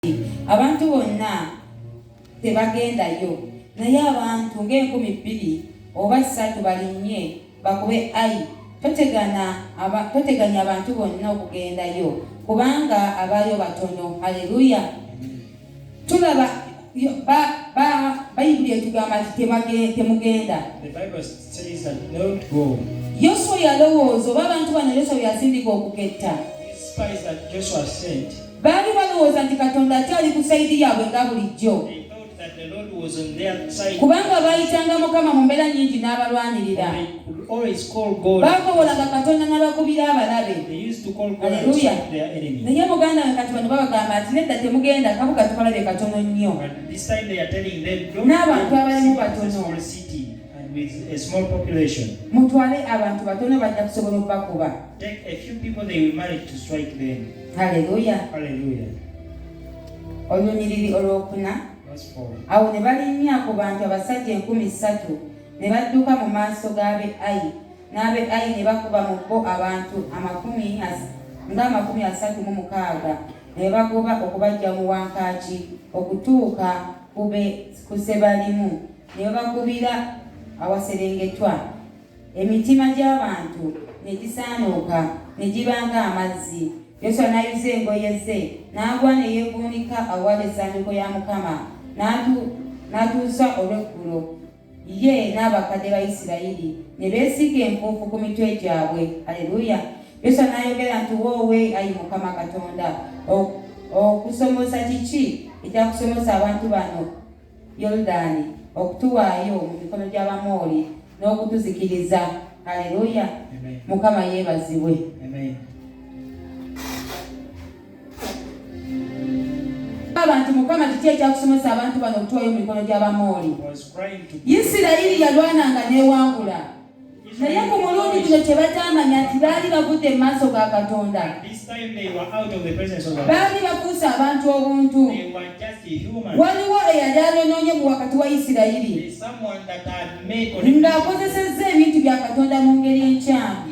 nti abantu bonna tebagendayo naye abantu ng'enkumi bbiri oba ssatu balinnye bakube ayi totegana aba, toteganya abantu bonna okugendayo kubanga abaayo batono haleluya tulaba bayibuli etugamba nti temugenda yoswa yalowooza oba abantu bano yoswa byasindika okuketta Baali balowooza nti Katonda akyali ku sayidi yaabwe nga bulijjo. kubanga baayitanga mukama mu mbeera nyingi n'abalwanirira baakobolanga katonda n'abakubira abalabe aleluya naye muganda we kati bano babagamba nti nedda temugenda kabuka tukalabye katono nnyo n'abantu abalimu batono with a small population. Mutwale abantu batono bajja kusobola okubakuba. Take a few people they will manage to strike them. haleluya olunyiriri olwokuna awo ne balinnya ku bantu abasajja enkumi ssatu ne badduka mu maaso g'abe ayi n'abe ayi ne bakuba mu bo abantu amakumi ng'amakumi asatu mu mukaaga ne bagoba okubajja mu wankaaki okutuuka ku sebalimu ne babakubira awaserengetwa emitima gy'abantu ne gisaanuuka ne giba ng'amazzi yoswa n'ayuza engoye ze n'agwa ne yeevuunika awali essanduuko ya mukama n'atuusa olw'eggulo ye n'abakadde ba isirayiri ne beesiga enfuufu ku mitwe gyabwe aleluya yoswa n'ayogera nti woowe ayi mukama katonda okusomosa kiki ekyakusomosa abantu bano Yoludaani okutuwaayo mu mikono gy'Abamooli n'okutuzikiriza. Haleluya! Mukama yeebazibwe. abantu mukama kiki ekyakusomesa abantu bano okutwayo mu mikono gy'abamooli isirayiri yalwananga n'ewangula naye ku mulundi guno kyebakyamanya nti baali bagudde mu maaso ga katonda baali bakuusa abantu obuntu waliwo eyali anonoonye mu wakati wa isirayiri ng'akozesezza ebintu bya katonda mu ngeri enkyamu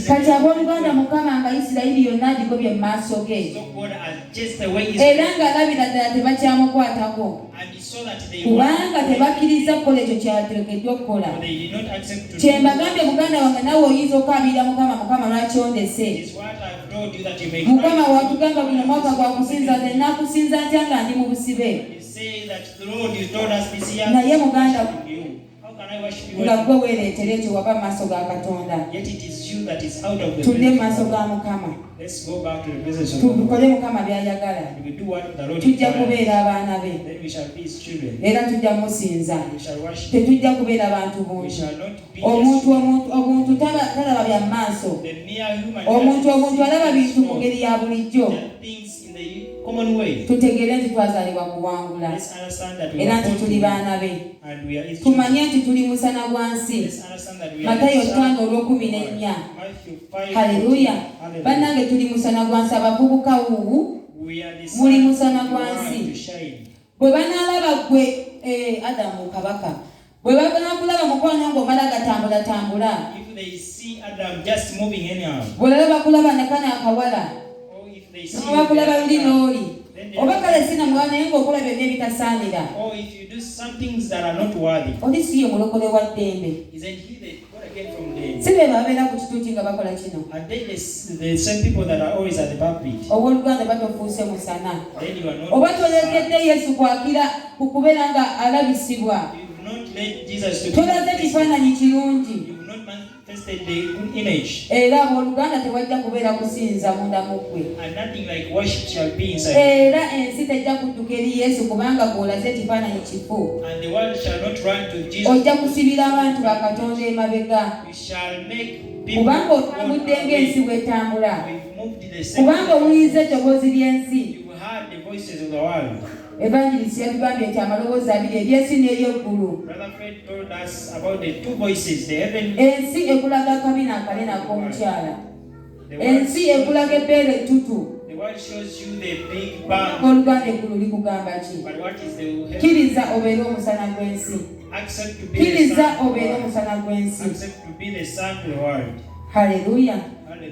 kati abooluganda mukama nga isirayiri yonna agigobye mu maaso ge era ng'alabira ddala tebakyamukwatako kubanga tebakkiriza kukola ekyo kyateekeddwa okukola kye mbagambye muganda wange nawe oyinza okukaabirira mukama mukama lwaki ondese mukama watugamba guno mwaka gwa kusinza nze nakusinza ntya nga ndi mu busibe naye muganda nga gwe weereetera ekyo waba mu maaso ga katonda tudde mu maaso ga mukama tukole mukama by'ayagala tujja kubeera abaana be era tujja musinza tetujja kubeera bantu bungi omuntu obuntu talaba bya maaso omuntu obuntu alaba bintu mu ngeri ya bulijjo tutegeere nti twazaalibwa kuwangula era nti tuli baana be tumanye nti tuli musana gwa nsi matayo tano olwokumi nennya haleluya bannange tuli musana gwa nsi abavubuka wuwu muli musana gwa nsi bwe banaalaba gwe eh, adamu kabaka Bwe bagala okulaba mukwano ng'omala gatambulatambula. If they see Adam just moving anyhow. Bw'olaba kulaba ne kano akawala. Or if they see. Bw'olaba kulaba luli n'oli. Oba kale si na mwana naye ng'okola byonna ebitasaanira. Or if you do some things that are not worthy. Oli si ye mulokole wa ddembe. Isn't he the si be babeera ku kituuti nga bakola kino owoluganda batofuuse musana oba tolekedde yesu kwakira ku kubeera nga alabisibwa tolaze kifaananyi kirungi era oluganda tewajja kubeera kusinza munda mu ggwe era ensi tejja kudduka eri yesu kubanga gw'olaze ekifaananyi kifu ojja kusibira abantu ba katonda emabega kubanga otambudde ng'ensi bw'etambula kubanga owuliriza eddoboozi ly'ensi evangelist yatugambye nti amaloboozi abiri ery'ensi n'ery'eggulu ensi ekulaga akabi n'akale n'ak'omukyala ensi ekulaga ebbeere ettutu oluganda eggulu likugamba ki kkiriza obeere omusana gw'ensi kkiriza obeere omusana gw'ensi haleluya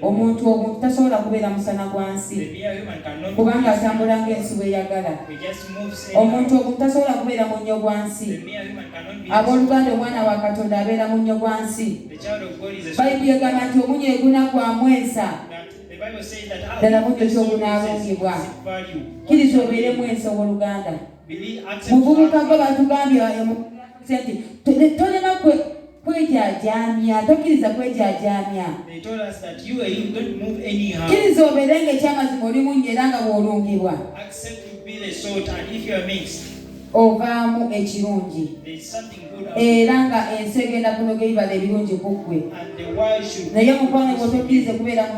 omuntu omuntu tasobola kubeera musana gwa nsi kubanga atambula ng'ensi bweyagala omuntu omuntu tasobola kubeera munnyo gwa nsi abooluganda omwana wa katonda abeera munnyo gwa nsi Bayibuli egamba nti omunyo eguna gwa mwensa ddala munyo kyogunalumbibwa kiriza obeere mwensa owoluganda muvubuka gwe batugambye nti tolina kwejajaamya tokkiriza kwejajaamya kiriza obeere nga ekyamazima oli munyo era nga bwolumbibwa ovaamu ekirungi era nga ensi egenda kunoga ebibala ebirungi ku ggwe naye omukwano gwo tokkirize kubeera mu